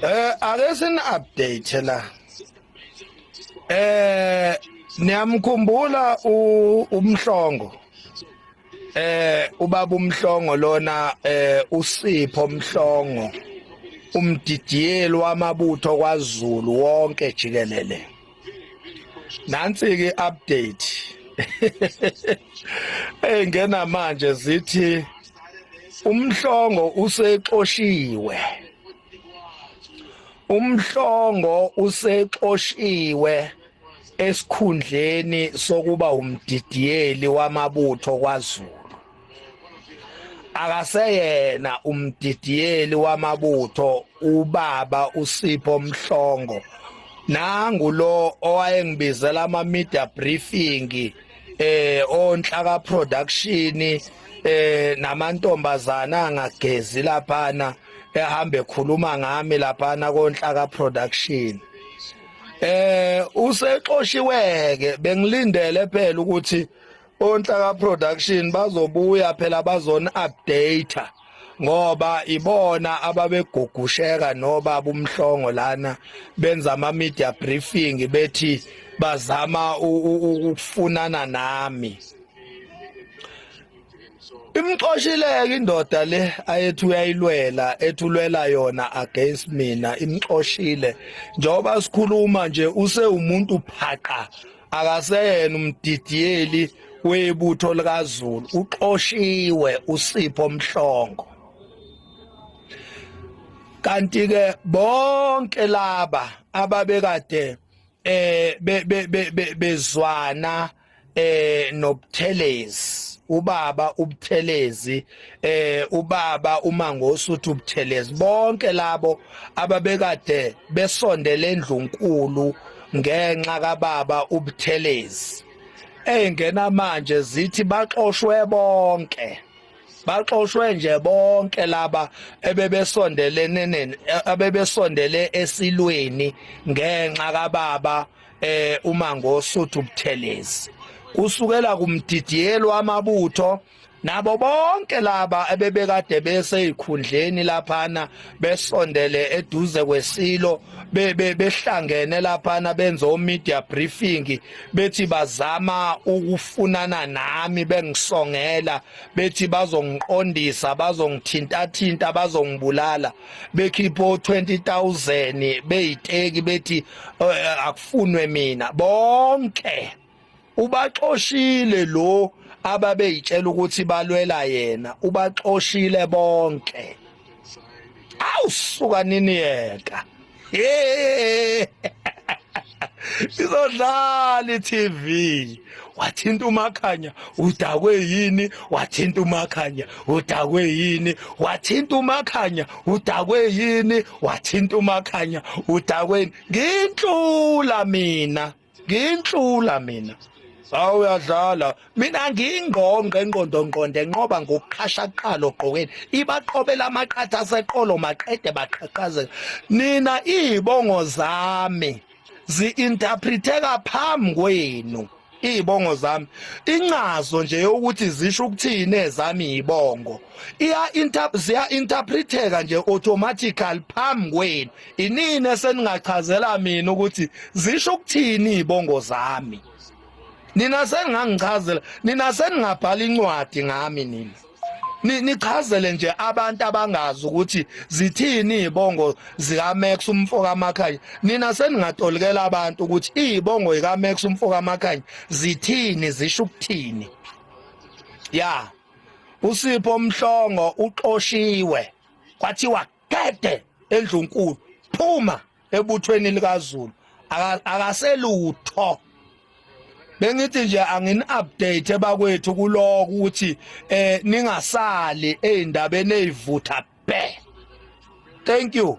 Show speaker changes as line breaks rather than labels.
Eh ake sin update la. Eh niyamkhumbula umhlongo. Eh ubaba umhlongo lona eh usipho umhlongo. Umdidiyeli wamabutho kwaZulu wonke jikelele. Nansi ke update. Hey ngena manje zithi umhlongo usexoshiwe. umhlongo usexoshiwe esikhundleni sokuba umdidiyeli wamabutho kwaZulu akaseyena umdidiyeli wamabutho ubaba uSipho Mhlongo nangu lo owayengibizela ama media briefing eh onhlaka production eh namantombazana angagezi laphana ehambe khuluma ngami laphana konhlaka production eh usexoshiweke bengilindele phela ukuthi onhlaka production bazobuya phela bazona update ngoba ibona ababegugusheka noba bumhlongo lana benza ama media briefing bethi bazama ukufunana nami imxoshileke indoda le ayethi uyayilwela ethulwela yona against mina imxoshile njengoba sikhuluma nje usewumuntu phaqa akaseyena umdidiyeli webutho likazulu uxoshiwe usipho mhlongo kanti ke bonke laba ababekade eh bezwana eh nobuthelezi ubaba ubuthelezi eh ubaba umango osuthi ubuthelezi bonke labo ababekade besondele endlunkulu ngenxa kababa ubuthelezi engena manje zithi baxoshwe bonke baxoshwe nje bonke laba ebebesondelene neni abebesondele esilweni ngenxa kababa eh uma ngosuthu ubuthelezi kusukela kumdidiyelo amabutho nabo bonke laba ebebekade beseyikhundleni laphana besondele eduze kwesilo behlangene laphana benza omedia briefing bethi bazama ukufunana nami bengisongela bethi bazongiqondisa bazongithintathinta bazongibulala bekhipha 20000 beyiteki bethi eh, akufunwe mina bonke ubaxoshile lo ababeyitshela ukuthi balwela yena ubaxoshile bonke awusuka nini yeka izodlala i-tv wathinta umakhanya udakwe yini wathinta umakhanya udakwe yini wathinta umakhanya udakwe yini wathinta umakhanya udakwe yini nginhlula mina nginhlula mina Hawu uyadlala. Mina ngingqongqe enqondo nqonde enqoba ngokuqhasha kuqala ogqokeni. Ibaqhobela amaqatha aseqolo maqede baqhaqhazela. Nina izibongo zami ziinterpreteka phambi kwenu. izibongo zami incazo nje yokuthi zisho ukuthini ezami izibongo iya interpret ziya interpreteka nje automatically phambi kwenu Inini eseningachazela mina ukuthi zisho ukuthini ibongo zami. Nina seningangichazela, nina seningabhala incwadi ngami nina. nichazele nje abantu abangazi ukuthi zithini izibongo zika Max umfo kaMakhanya nina seningatolikela abantu ukuthi izibongo zika Max umfo kaMakhanya zithini zisho ukuthini ya usipho mhlongo uxoshiwe kwathiwa Gede endlunkulu phuma ebuthweni likaZulu akaselutho bengithi nje angin update bakwethu kuloko ukuthi eh ningasali ezindabeni ezivutha bhe thank you